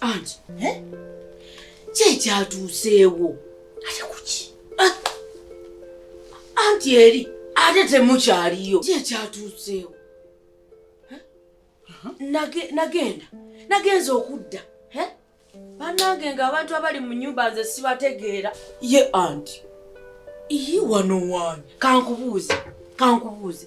anti eh? kyekyatuuseewo ate kuki ah! anti eri ate temukyaliyo kyekyatuuseewo eh? nagenda nagenza okudda eh? banange nga abantu abali mu nyumba nze sibategeera ye anti iyi wano wani kankubuuze kankubuuze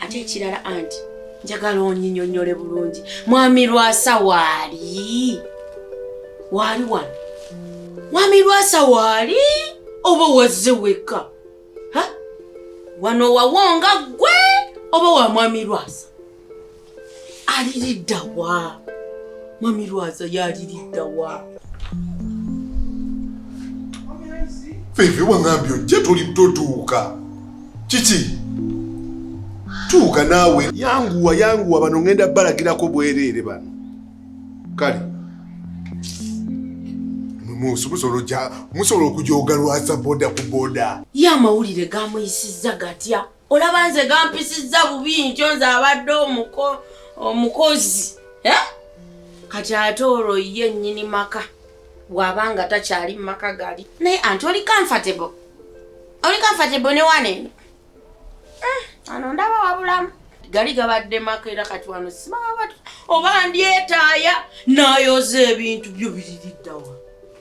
ate ekirala anti njagala onyinyonyole bulungi mwami lwasa waali waali wano mwami lwasa waali oba wazze wekka wano wawonga ggwe oba wa mwami lwasa aliridda wa mami lwaza yaliridda wa feve wangambye ojja toli totuuka kiki tuuka naawe yanguwa yanguwa bano ngenda balagirako bwereere bano kale musobola okujoga lwaza boda ku boda ye amawulire gamuyisizza gatya olaba nze gampisizza bubi nkyo nze abadde omukozi eh? kati ate olwo ye nyini maka bwaba nga takyali mumaka gali naye anti oli comfortable oli comfortable ne wana eno eh, ano ndaba wabulamu gali gabadde maka era kati wano simawa oba ndyetaaya nayoza ebintu byo biririddawa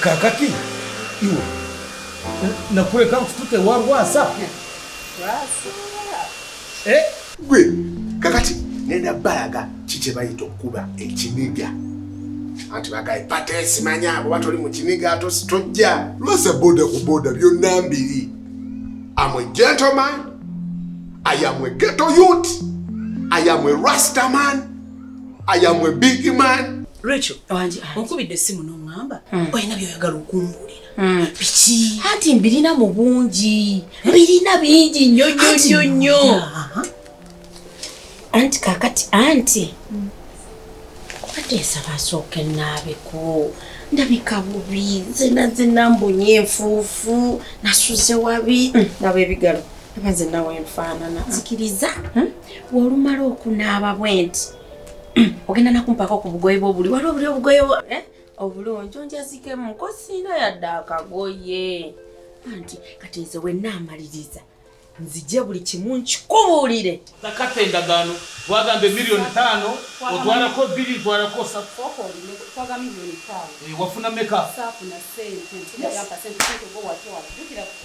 kakati iwe nakuleka nkutute wa lwasa eh? gwe kakati nenda balaga kikyebayita okukuba ekiniga anti bagaye pata esimanya abo batoli mu kiniga tojja lwasa boda ku boda byonna mbiri am a gentleman i am a ghetto youth i am a rastaman I am a big man. Rachel, wanje onkubidde essimu n'oŋŋamba hmm. olina by'oyagala okumbuulira. Hmm. Biki? Anti mbirina mu bungi. Mbirina bingi nnyo nnyo nnyo nnyo. Anti kaakati anti. Hmm. Kati nsaba asooke nnaabeko. ndabika bubi zena zena mbonye enfuufu nasuze wabi hmm. nabo ebigalo aba zena wenfaanana nzikiriza hmm? wolumala okunaaba bwenti ogenda nakumpaka ku bugoye bwobuli wali obuli obugoye eh? obulungi onjazikemu kosiina yadde akagoye anti kati nze wenaamaliriza nzije buli kimu nkikubuulire nakata endagaano wagamba emiliyoni taano otwalako bbiri twalako eh, wafuna meka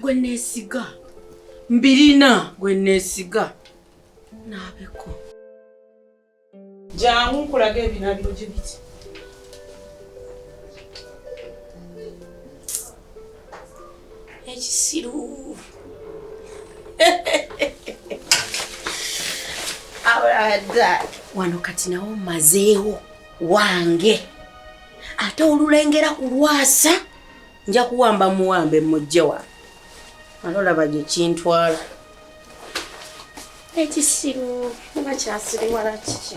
gwe neesiga mbirina gwe neesiga naabeko jangu nkulaga ebinabiro gye biti ekisiru wano kati nawo mazeewo wange ate olulengera kulwasa nja kuwamba muwambe mujje wa alolaba gye kintwala ekisiru oba kyasiriwala kiki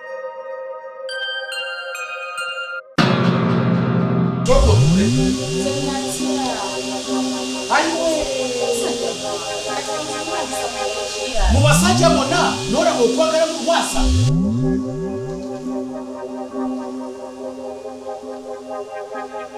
mu basajja bonna n'olaba okwagala mu kwasa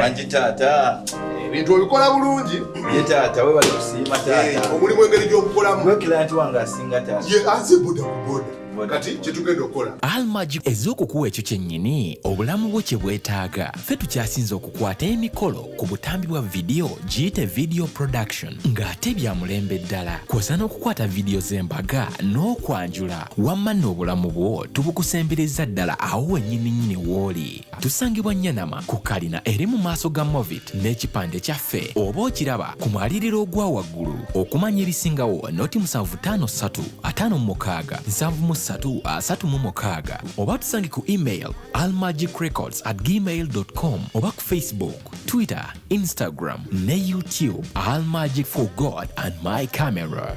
wangi taata ebintu eh, obikola bulungi ye taata webale kusiima taata eh, omulimu engeri gyokukolamu wekilanti wange asinga taata ye anze boda ku boda kati kyetugenda okukola almagi ez'okukuwa ekyo kyennyini obulamu bwo kye bwetaaga ffe tukyasinze okukwata emikolo ku butambi bwa vidiyo giyite video production ng'ate bya mulembe ddala kwosa n'okukwata vidiyo z'embaga n'okwanjula wamma n'obulamu bwo tubukusembereza ddala awo wennyininyini w'oli Tusangibwa Nyanama ku kalina eri mu maaso ga Movit n'ekipande kyaffe oba okiraba ku mwaliriro ogwa waggulu. Okumanya ebisingawo noti musanvu ttaano ssatu ataano mu mukaaga nsanvu mu ssatu asatu mu mukaaga oba tusange ku email almagicrecords at gmail com oba ku Facebook, Twitter, Instagram ne YouTube Almagic for God and my camera.